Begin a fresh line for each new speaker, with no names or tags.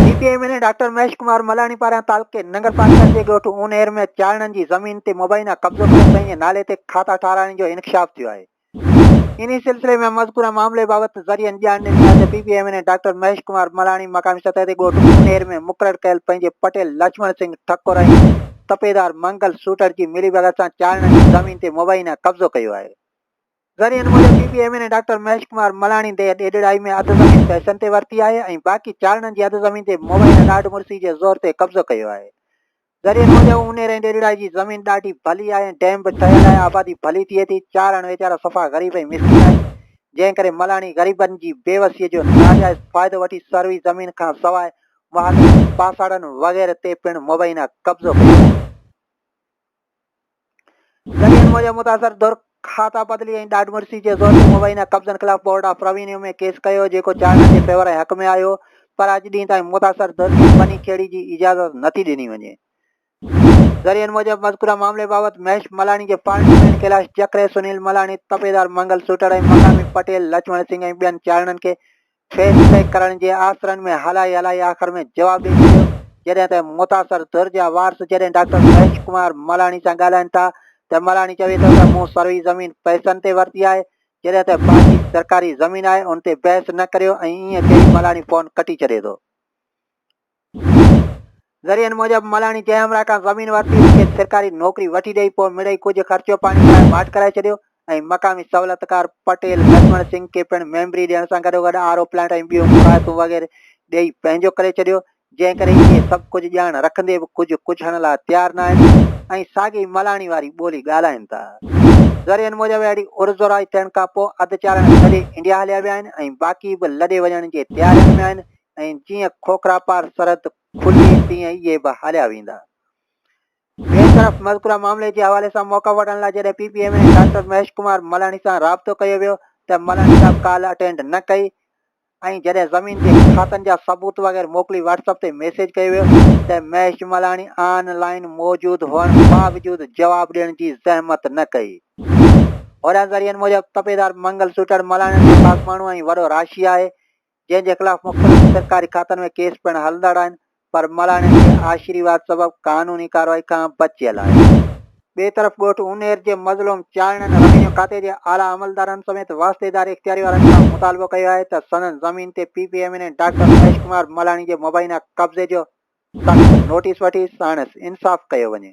P T I M N A doctor Mahesh Kumar Malani پاران تعلقي ننگر پاٽڪر جي ڳوٺ اونهير ۾ چاڙهڻن جي زمين تي مبينا قبضو ڪري پنهنجي نالي تي کاتا ٺاراهڻ جو انڪشاف ٿيو آهي. انهي سلسلي ۾ مذڪوره معاملي بابت ذريعن ڄاڻ ڏني آهي ته P P I M N A doctor Mahesh Kumar Malani مقامي سطح تي ڳوٺ اونهير ۾ مقرر ڪيل پنهنجي پٽيل لڇمڻ سنگهه ٺڪر ۽ تپيدار منگل سوٽر جي ملي بئگر سان چارڻن جي زمين تي مبينا قبضو ڪيو آهي. ذريعن موجب P P M N A doctor Mahesh Kumar Malani ديهه ڏيڏڙائي ۾ اڌ زمين پئسن تي ورتي آهي ۽ باقي چارڻن جي اڌ زمين تي مبينا ڏاڍ مڙسي جي زور تي قبضو ڪيو آهي. ذريعن موجب اونير ۽ ڏيڏڙائي جي زمين ڏاڍي ڀلي آهي ۽ ڊيم به ٺهيل آهي آبادي ڀلي ٿئي ٿي چارڻ ويچارا صفا غريب ۽ مسڪين آهن جنهن ڪري ملاڻي غريبن جي بيوسي جو ناجائز فائدو وٺي سروي زمين کان سواء واهلن، پاساڙن وغيره تي پڻ مبينا قبضو ڪيو ويو. ذريعن موجب متاثر ڌر کاتا بدلي ۽ ڏاڍ مڙسي جي زور تي مبينا قبضن خلاف بورڊ آف روينيو ۾ ڪيس ڪيو جيڪو چارن جي فيور ۽ حق ۾ آيو پر اڄ ڏينهن تائين متاثر ڌر کي بني کيڙي جي اجازت نٿي ڏني وڃي ذريعن موجب مذڪوره معاملي بابت مهيش ملاڻي جي پارٽي پڻ ڪيلاش جکري، سنيل ملاڻي، تپيدار منگل سوٽڙ ۽ مقامي پٽيل لڇمڻ سنگهه ۽ ٻين چاڙهڻن کي فيس پيڪ ڪرڻ جي آسرن ۾ هلائي هلائي آخر ۾ جواب ڏئي ڇڏيو جڏهن ته متاثر ڌر جا وارث جڏهن ڊاڪٽر مهيش ڪمار ملاڻي سان ڳالهائين ٿا ته ملاڻي چوي ٿو ته مون سروي زمين پئسن تي ورتي آهي جڏهن ته باقي سرڪاري زمين آهي ان تي بحث نه ڪريو ۽ ائين چئي ملاڻي فون ڪٽي ڇڏي ٿو. ذريعن موجب ملاڻي جنهن همراهه کان زمين ورتي هئي کيس سرڪاري نوڪري وٺي ڏئي پوء مڙئي ڪجهه خرچو پاڻي لاء ماٺ ڪرائي ڇڏيو ۽ مقامي سهولتڪار پٽيل لڇمڻ سنگهه کي پڻ ميمبري ڏيڻ سان گڏوگڏ آر او پلانٽ ۽ ٻيون مراعتون وغيره ڏئي پنهنجو ڪري ڇڏيو جنهن ڪري اهي سڀ ڪجهه ڄاڻ رکندي به ڪجهه ڪجهڻ لاء تيار نه آهن ۽ ساڳئي ملاڻي واري ٻولي ڳالهائين ٿا ذريعن موجب اهڙي عرضدارائي ٿيڻ کانپوء اڌ چارڻ ڇڏي انڊيا هليا ويا آهن ۽ باقي به لڏي وڃڻ جي تيارين ۾ آهن ۽ جيئن کوکرا پار سرحد کلي تيئن اهي به هليا ويندا. ٻئي طرف مذڪوره معاملي جي حوالي سان موقف وٺڻ لاء جڏهن P P M N doctor Mahesh Kumar Malhani سان رابطو ڪيو ويو ته ملهاڻي صاحب ڪال اٽينڊ نه ڪئي ۽ جڏهن زمين جي کاتن جا ثبوت وغيره موڪلي واٽس اپ تي ميسيج ڪيو ويو ته مهيش ملهاڻي آن لائين موجود هئڻ باوجود جواب ڏيڻ جي زحمت نه ڪئي. هوريان ذريعن موجب تپيدار منگل سوٽڙ ملهاڻين جو خاص ماڻهو ۽ وڏو راشي آهي جنهن جي خلاف مختلف سرڪاري کاتن ۾ ڪيس پڻ هلندڙ آهن پر ملاڻين جي آشيرواد سبب قانوني ڪارروائي کان بچيل آهي. ٻئي طرف ڳوٺ اونهير جي مظلوم چانئڙن روينيو کاتي جي اعليٰ عملدارن سميت واسطيدار اختياري وارن کان مطالبو ڪيو آهي ته سندن زمين تي P P M N A doctor Mahesh Kumar Malani جي مبينا قبضي جو سخت نوٽيس وٺي ساڻس انصاف ڪيو وڃي.